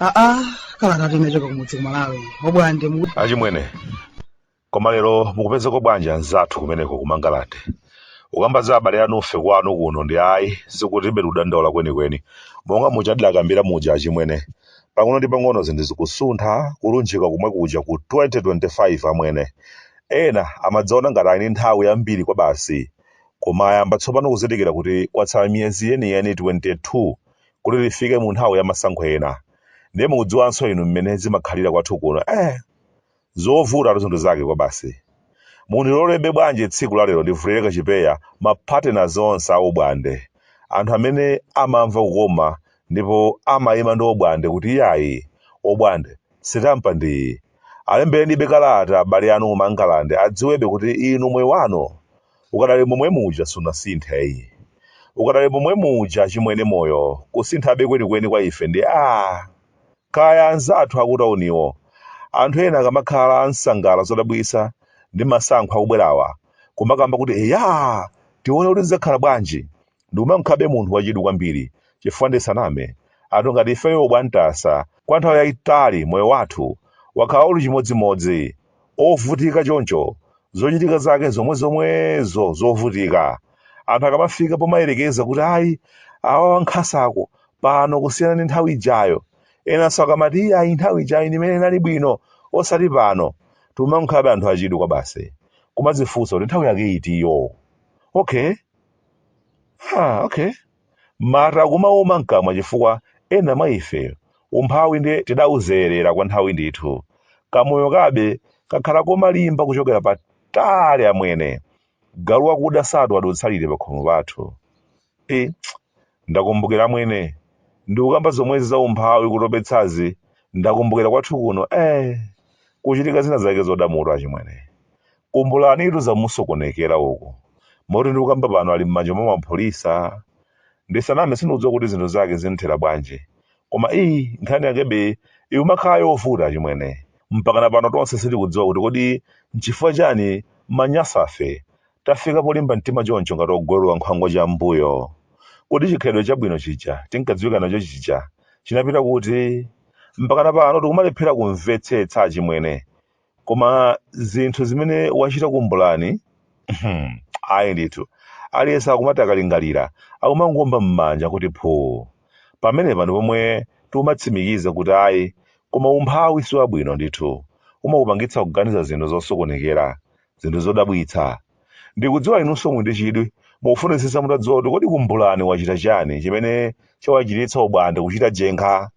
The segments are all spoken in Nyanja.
aa kala kati nachoka kumudzi kumalawi obwande mu achimwene koma lero mukupezeko bwanji anzathu kumeneko ku mangalande ukamba za abale anufe kwanu kuno ndi ayi sikutibe tikudandaula kwenikweni monga muja ndidakambira muja achimwene pang'ono ndi pang'ono zinthu zikusuntha kulunjika kumwe kuja ku 2025 amwene ena amadzaona ngati ali ndi nthawi yambiri kwa basi koma ayamba tsopano kuzindikira kuti kwatsala miyezi yeniyeni 22 kuti tifike mu nthawi ya masankho ena ndiye mukudziwanso inu mmene zimakhalira kwathu kuno eh zovutatu zinthu zake kwabasi. Mundilolebe bwanji tsiku la lero ndivulire kachipeya ma partners onse a Obwande. Anthu amene amamva kukoma ndipo amayima ndi Obwande kuti iyayi, Obwande, sitampa ndi iyi. Alemberenibe kalata abale anu ku Mangalande adziwebe kuti inu moyo wanu ukadali momwe muja sunasinthe ayi. Ukadali momwe muja achimwene moyo kusintha be kwenikweni kwa ife ndi aah! Kaya anzathu akutauniwo, anthu ena akamakhala akusangalala zodabwitsa ndi masankho akubwerawa, kumakamba kuti eyaa! tione kuti zidzakhala bwanji, ndikumankhabe munthu wachidwi kwambiri, chifukwa ndisaname, anthu ngati ifeyo obwandasa kwa nthawi yaitali moyo wathu wakhala uli chimodzimodzi, ovutika choncho zochitika zake zomwe zomwezo zovutika anthu akamafika pomayerekeza kuti ayi awa wankhasako pano kusiyana ndi nthawi ijayo enanso akamati iyayi nthawi ijayo ndi imene inali bwino osati pano timankhabe anthu achidwi kwa basi kumadzifunsa kuti nthawi yake itiyo okay ah, okay Mate kumauma mkamwa chifukwa ena mwa ife umphawi nde tidauzolowera kwa nthawi ndithu. Kamoyo kabe kakhala komalimba kuchokera patali amwene. Galu wakuda satuwa adutsa liti pakhomo pathu. Iii ndakumbukira amwene ndikukamba zomwezi za umphawi kutopetsazi ndakumbukira kwathu kuno eeh kuchitika zina zake zoda mutu achimwene. Kumbulanitu zamusokonekera uku. Moti ndikukamba pano ali mmanja mwa mapolisa. Ndisaname sindikudziwa kuti zinthu zake zinthera bwanji. Koma ii nkhani yakebe ikumakhala yovuta achimwene. Mpakana pano tonse sitikudziwa kuti kodi nchifukwa chani maNyasafe tafika polimba mtima choncho ngati ogwelwa nkhwangwa chammbuyo. Kodi chikhalidwe chabwino chija tinkadziwika nacho chija chinapita kuti? Mpakana pano tikumalephera kumvetsetsa achimwene. koma zinthu zimene wachita kumbulani ayi ndithu aliyense akumati akalingalira akumangomba m'manja kuti phuu pamenepa ndi pomwe tikumatsimikiza kuti ayi koma umphawi si wabwino ndithu umakupangitsa kuganiza zinthu zosokonekera zinthu zodabwitsa ndikudziwa inunso muli ndi chidwi mukufunitsitsa mutadziwa kuti kodi kumbulani wachita chani chimene chawachititsa obwande kuchita jenkha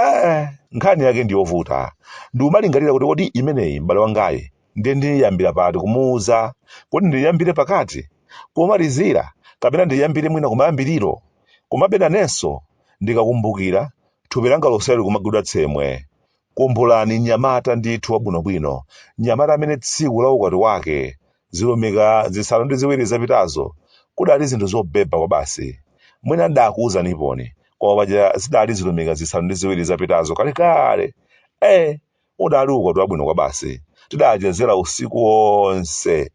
eh, nkhani yake ndiyovuta ndikumalingalira kuti kodi imeneyi m'bale wangayi ndiye ndiyambira pati kumuuza kodi ndiyambire pakati kumalizira kapena ndiyambire mwina kumayambiriro komabe nanenso ndikakumbukira thupi langa lonselo likumagwidwa tsemwe kumbulani mnyamata ndithu wabwinobwino mnyamata amene tsiku la ukwati wake Zilumika zisanu ndi ziwiri zapitazo kudali zinthu zobeba kwabasi. Mwina ndidakuuzaniponi, koma paja zidali zilumika zisanu ndi ziwiri zapitazo kalekale. Ee! Udali ukwati wabwino kwabasi. Tidachezera usiku wonse.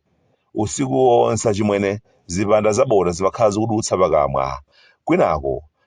Usiku wonse achimwene zipanda zabota zimakhala zikudutsa pakamwa, kwinaku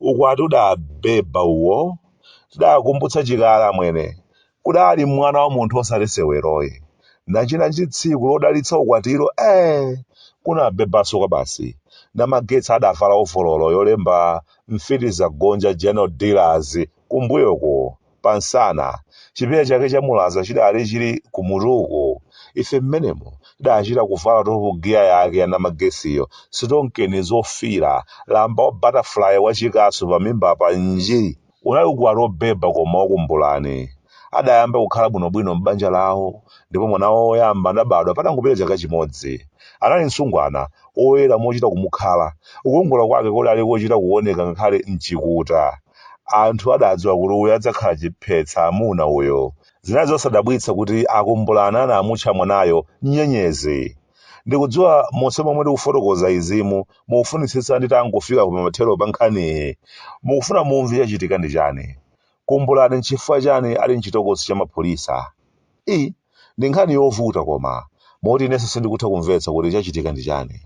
ukwati udabeba uwo tidakumbutsa chikale amwene kudali mwana wa munthu osati seweroyi nachina nji tsiku lodalitsa ukwatilo ee kunabebanso kwabasi namagetsi adavala ovololo yolemba mfiti zagonja general dealers kumbuyoko pa msana. Chipewa chake cha mulaza chidali chili kumutu uku. Ife mmenemo tidachita kuvala topu giya yake ya namagetsiyo, sitonkeni zofiira, lamba wa butterfly wachikasu pamimba apa, nji! Unali ukwati wobeba koma wakumbulani. Adayamba kukhala bwinobwino m'banja lawo ndipo mwana wawo woyamba adabadwa patangopita chaka chimodzi. Anali msungwana, woyera mochita kumukhala. Kukongola kwake kudali kochita kuoneka ngakhale m'chikuta. Anthu adadziwa kuti uyo adzakhala chiphetsa amuna uyo. Zinali zosadabwitsa kuti akumbulani anamutcha mwanayo Nyenyezi. Ndikudziwa monse momwe ndikufotokoza izi mukufunitsitsa nditangofika ku pamathero pa nkhaniyi. Mukufuna mumve chachitika ndi chani? Kumbulani nchifukwa chani ali mchitokosi cha apolisi? I. Ndi nkhani yovuta koma, moti inenso sindikutha kumvetsa kuti chachitika ndi chani.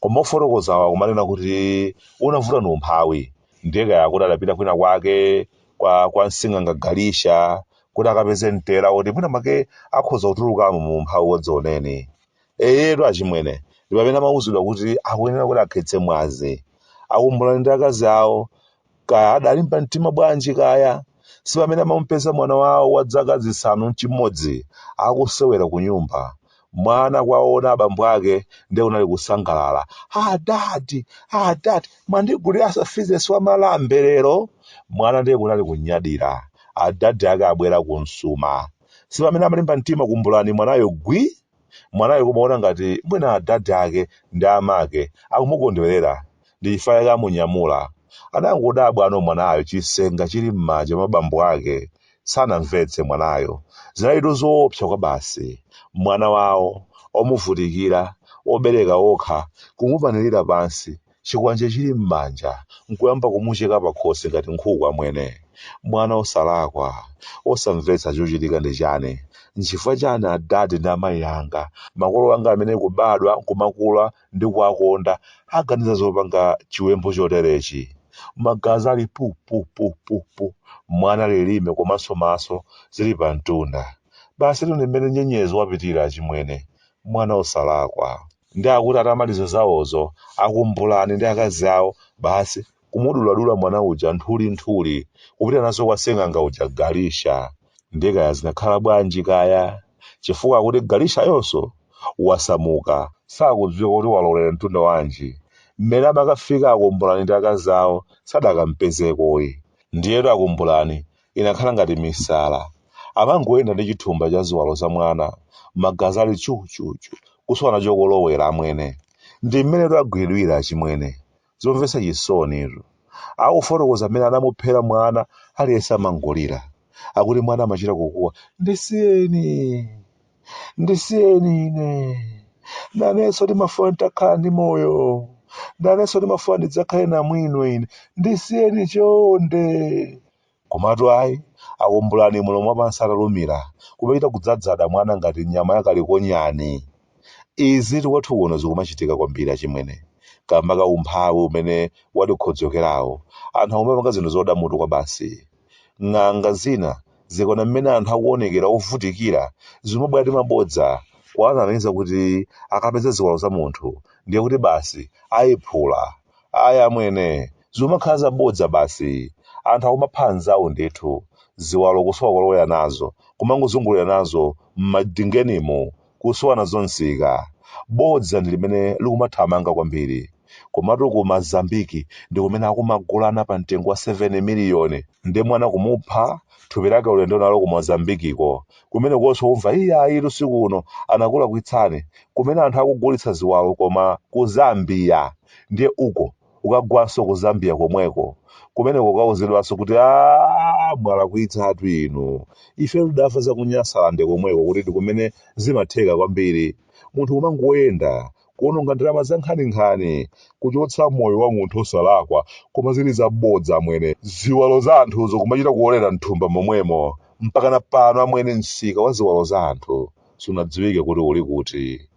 Koma ofotokozawo akumanena kuti unavuta ndi umphawi, ndiye kaya akuti adapita kwina kwake kwa kwa sing'anga Galisha kuti akapeze mtela woti mwina mwake akhoza kutulukamo mu umphawi wadzioneni. Eyetu achimwene, ndi pamene amauzidwa kuti akuyenera kuti akhetse mwazi. Akumbulani ndi akazi awo, kaya adalimba mtima bwanji kaya si pamene amamupeza mwana wawo wa dzaka zisanu n'chimodzi akusewera kunyumba mwana kwaona abambo ake ndiye kunali kusangalala adadi adadi mwandigulira mafizesi wa malambe lero mwana ndiye kunali kunyadira adadi ake abwera kumsuma si pamene amalimba mtima kumbulani mwanayo gwi Mwanayo kumaona ngati mwina adadi ake ndi amake akumukondwerera ndi chifukwa chake amunyamula. Anangodabwano mwanayo chisenga chili m'manja mwa bambo ake. Sanamvetse mwanayo. Zinalitu zoopsa kwabasi. Mwana wawo, omuvutikira, wobereka okha, kumupanilira pansi. chikwanje chili m'manja n'kuyamba kumucheka pakhosi ngati nkhuku amwene. Mwana osalakwa, osamvetsa chochitika ndi chani? Nchifukwa chani a dad ndi amayi anga, makolo anga amene kubadwa nkumakula ndikuwakonda, aganiza zopanga chiwembo choterechi? Magazi ali pu pu pu pu pu, mwana lilime komanso maso zili pamtunda. Basitu ndi m'mene Nyenyezi wapitira achimwene. Mwana osalakwa. Nde akuti atamaliza zawozo a Kumbulani ndi akazi awo basi kumuduladula mwana uja nthuli nthuli kupita nazo kwa sing'anga uja Galisha. Nde kaya zinakhala bwanji kaya chifukwa akuti Galishayonso wasamuka. Sakudziwika kuti walowelera mtunda wanji. Mmene amakafika a Kumbulani ndi akazi awo sadakampezekoyi. Ndiyetu a Kumbulani inakhala ngati misala. Amangoyenda ndi chithumba cha ziwalo za mwana, magazi ali chuchuchu, kusowa nacho kolowera, amwene. Ndi mmenetu agwidwira, achimwene. Zomvetsa chisonitu. Akufotokoza mmene anamuphera mwana, aliyense amangolira. Akuti mwana amachita kukuwa, Ndisiyeni! ndisiyeni ine nanenso ndimafuna nditakhala ndi moyo nanenso ndimafuna ndidzakhale namwino ine ndisiyeni chonde komatu ayi a Kumbulani mulomo wapansi atalumira kumachita kudzadzada mwana ngati nyama yakalikonyani izi tikwathu kuno zikumachitika kwambiri achimwene kamba ka umphawi umene watikhodzokerawo anthu akumapanga zinthu zoda mutu kwa basi Ng'anga zina zikaona mmene anthu akuonekera ovutikira, zimabwera ndi mabodza kuwanamiza kuti akapeza ziwalo za munthu ndiye kuti basi aiphula. Ayi amwene, zikumakhala zabodza basi. Anthu akumapha anzawo ndithu, ziwalo kusowa kolowera nazo, kumangozungulira nazo m'madingenimu kusowa nazo msika. Bodza ndi limene likumathamanga kwambiri. Komatu ku Mozambiki ndi kumene akumagulana pa mtengo wa 7 miliyoni. Ndiye mwana kumupha, thupi lake ulendo nalo ku Mozambikiko. Kumenekonso kumva iyayitu si kuno, anakulakwitsani. Kumene anthu akugulitsa ziwalo koma ku Zambia. Ndiye uko ukagwanso ku zambia komweko kumeneko ukauzidwanso kuti aa mwalakwitsatu inu ife tidamva za ku nyasalande komweko kuti ndi kumene zimatheka kwambiri munthu kumangoyenda kuononga ndalama za nkhaninkhani kuchotsa moyo wa munthu osalakwa koma zili zabodza amwene ziwalo za anthuzo kumachita kuolera mthumba momwemo mpakana pano amwene msika wa ziwalo za anthu sunadziwike kuti uli kuti